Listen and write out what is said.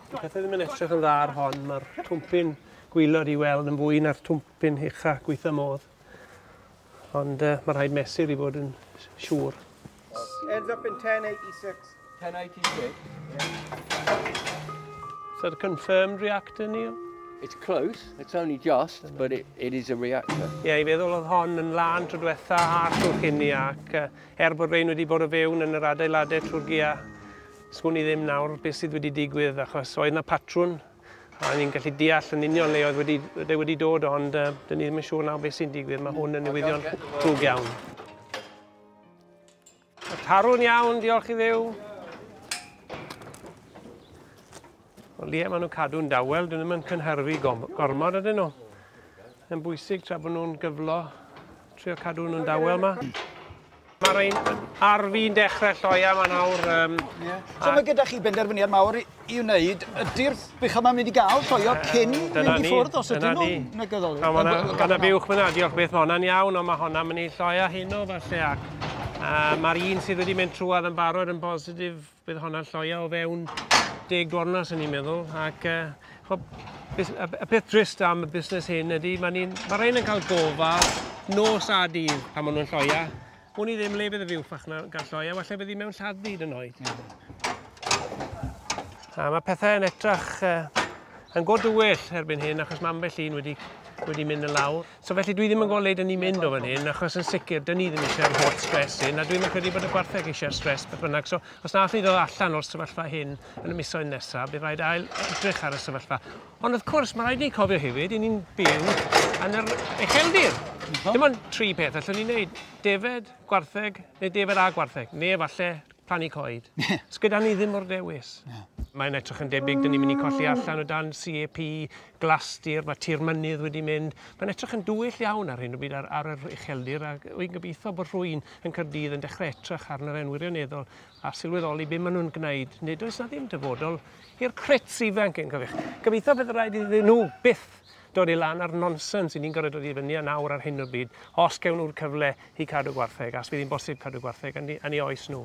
Pethau ddim yn edrych yn dda ar hon, mae'r twmpyn gwylod i weld yn fwy na'r twmpyn ucha gweitha modd. Ond uh, mae rhaid mesur i fod yn siŵr. Ends up in 1086. 1086? Is that a confirmed reactor, Neil? It's close, it's only just, but it, it is a reactor. Ie, yeah, i feddwl oedd hon yn lan tro diwetha a tro cynni ac uh, Er bod rhein wedi bod o fewn yn yr adeiladau trwy'r gia, swn i ddim nawr beth sydd wedi digwydd achos oedd na patrwn a ni'n gallu deall yn union le oedd wedi, wedi, wedi dod ond uh, dyn ni ddim yn siŵr nawr beth sy'n digwydd. Mae hwn yn newyddion drwg iawn. Tarwn iawn, diolch i ddew. Ond ie, maen nhw'n cadw'n dawel, dyn nhw'n yn cynhyrfu gormod ydyn nhw. Yn bwysig tra bod nhw'n gyflo, trio cadw nhw'n dawel yma. Mae rhain ar fi'n dechrau lloia yma nawr. Um, yeah. So mae gyda chi benderfyniad mawr i, i wneud. Ydy'r bych yma mynd i gael lloio uh, cyn mynd i ffwrdd os ydyn nhw'n negyddol? Mae yna buwch fyna, diolch beth mae hwnna'n iawn, ond mae hwnna'n mynd i lloio hyn o falle ac uh, mae'r un sydd wedi mynd trwad yn barod yn bositif Bydd honna lloia o fewn deg gornau, sy'n ni'n meddwl. Ac uh, y peth drist am y busnes hyn ydy, mae ni'n, mae rhain yn cael gofal nos a dydd pan maen nhw'n lloia. Wn i ddim le bydd y fyw ffach na gael lloia, felly bydd hi mewn lladd byd yn oed. A mae pethau yn etrach uh, yn god dywyll erbyn hyn, achos mae ambell un wedi, wedi mynd yn lawr. So felly dwi ddim yn gweld yn ni mynd o fan hyn, achos yn sicr, dyn ni ddim eisiau'r holl stres hyn, a dwi'n yn credu bod y gwartheg eisiau'r stres beth bynnag. So os na allai ddod allan o'r sefyllfa hyn yn y misoedd nesaf, bydd rhaid ail edrych ar y sefyllfa. Ond wrth cwrs, mae rhaid ni cofio hefyd, i ni'n byw yn yr ucheldir. Dim ond tri peth allwn ni'n neud. Defed, gwartheg, neu defed a gwartheg, neu efallai Plannu coed. Does gyda ni ddim o'r dewis. Mae'n edrych yn debyg dyn ni'n mynd i colli allan o dan CAP, glastir, mae tir mynydd wedi mynd. Mae'n edrych yn dwyll iawn ar hyn o byd ar, ar yr ucheldir a wy'n gobeithio bod rhwy'n yn Cyrdydd yn dechrau etrach ar yr wirioneddol a sylweddoli beth maen nhw'n gwneud. Nid oes na ddim dyfodol i'r crits ifanc yn cyfeich. Gobeithio bydd rhaid iddyn nhw byth dod i lan a'r nonsens i ni'n gorfod dod i fyny â nawr ar hyn o bryd, os gewn nhw'r cyfle i cadw gwartheg, as fydd hi'n bosib cadw gwartheg yn yn ei oes nhw.